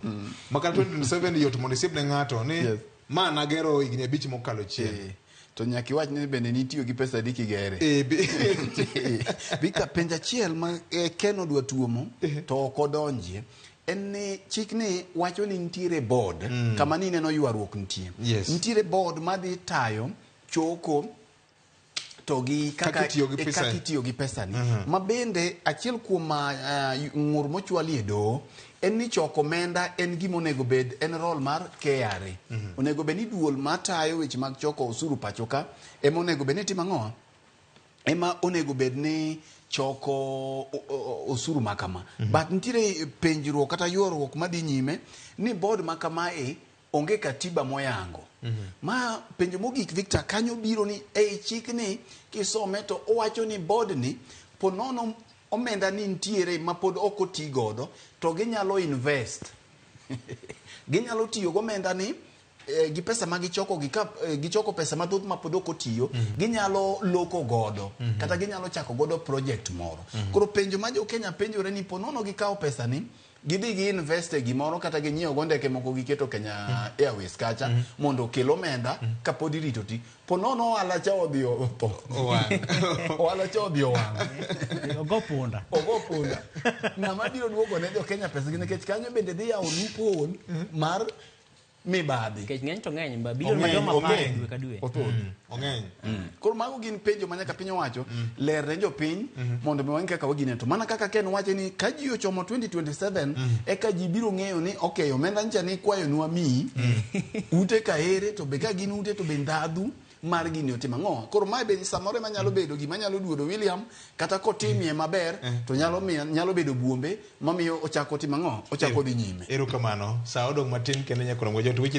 mm. maka 2027 yot mondo isiep ne ng'ato ni yes. ma nagero higni abich mokalo chien eh, to nyaka iwach ni bende nitiyo gi pesa adi kigere eh, bika penjo achiel ma eh, ken odwa tuomo eh. to ok odonjie en ni chik ni wacho ni nitiere board mm. kama ni neno ywaruok nitie yes. nitiere board madhi tayo choko to gi kaka Kaka itiyo gi e, pesa. kaka itiyo gi pesani ma bende achiel kuom ah, ah, ng'ur mochwali e doho en ni choko omenda en gima onego bed en rol mar KRA onego bed ni duol matayo weche mag choko osuru pacho ka ema onego bed ni timo ang'owa ema onego bed ni choko o- o- osuru ma kama but nitiere penjruok kata ywaruok madhi nyime ni bod ma kamae onge katiba moyango ma penjo mogik victor kanyo biro ni ei chikni kisome to owacho ni bodni ponono omenda ni nitiere ma pod ok oti godo to ginyalo invest ginyalo tiyo gomenda ni eh, gi pesa ma gichoko gi ka eh, gichoko pesa mathoth ma pod ok otiyo ginyalo loko godo kata ginyalo chako godo project moro koro penjo ma jo Kenya penjore ni ponono gikawo pesa ni gidhi gi invest e gimoro kata ginyiewo go ndeke moko giketo Kenya mm. Airways kacha mm. mondo okel omenda mm. ka pod irito ti po nono ohala cha odhi otho ohala cha odhi owang' ogo punda ogo punda ng'ama biro duogo ne jo Kenya pesa gi nikech kanyo bende dhi yawo loophole mar mibadhi nikech ng'eny to ng'eny ma bilion Ong'eny, madongo apar ong'eny. dwe ka dwe Othoth. ong'eny koro mago gin penjo ma nyaka piny owacho ler ne jopiny mondo mi wang'e kaka wagine to mana kaka ken wache ni ka ji ochomo 2027 eka ji biro ng'eyo ni ok omenda ncha ni kwayo nwa miyi ute ka ere to be ka gin ute to be ndhadhu mar gini otim ang'o koro mae be samoro ema nyalo bedo gima nyalo duodo william kata kotimie maber to nyalo miyo nyalo bedo buombe mamiyo ochako otim ang'o ochako dhi nyime Erokamano. Sa odong' matin kendo nyaka romgo jot weche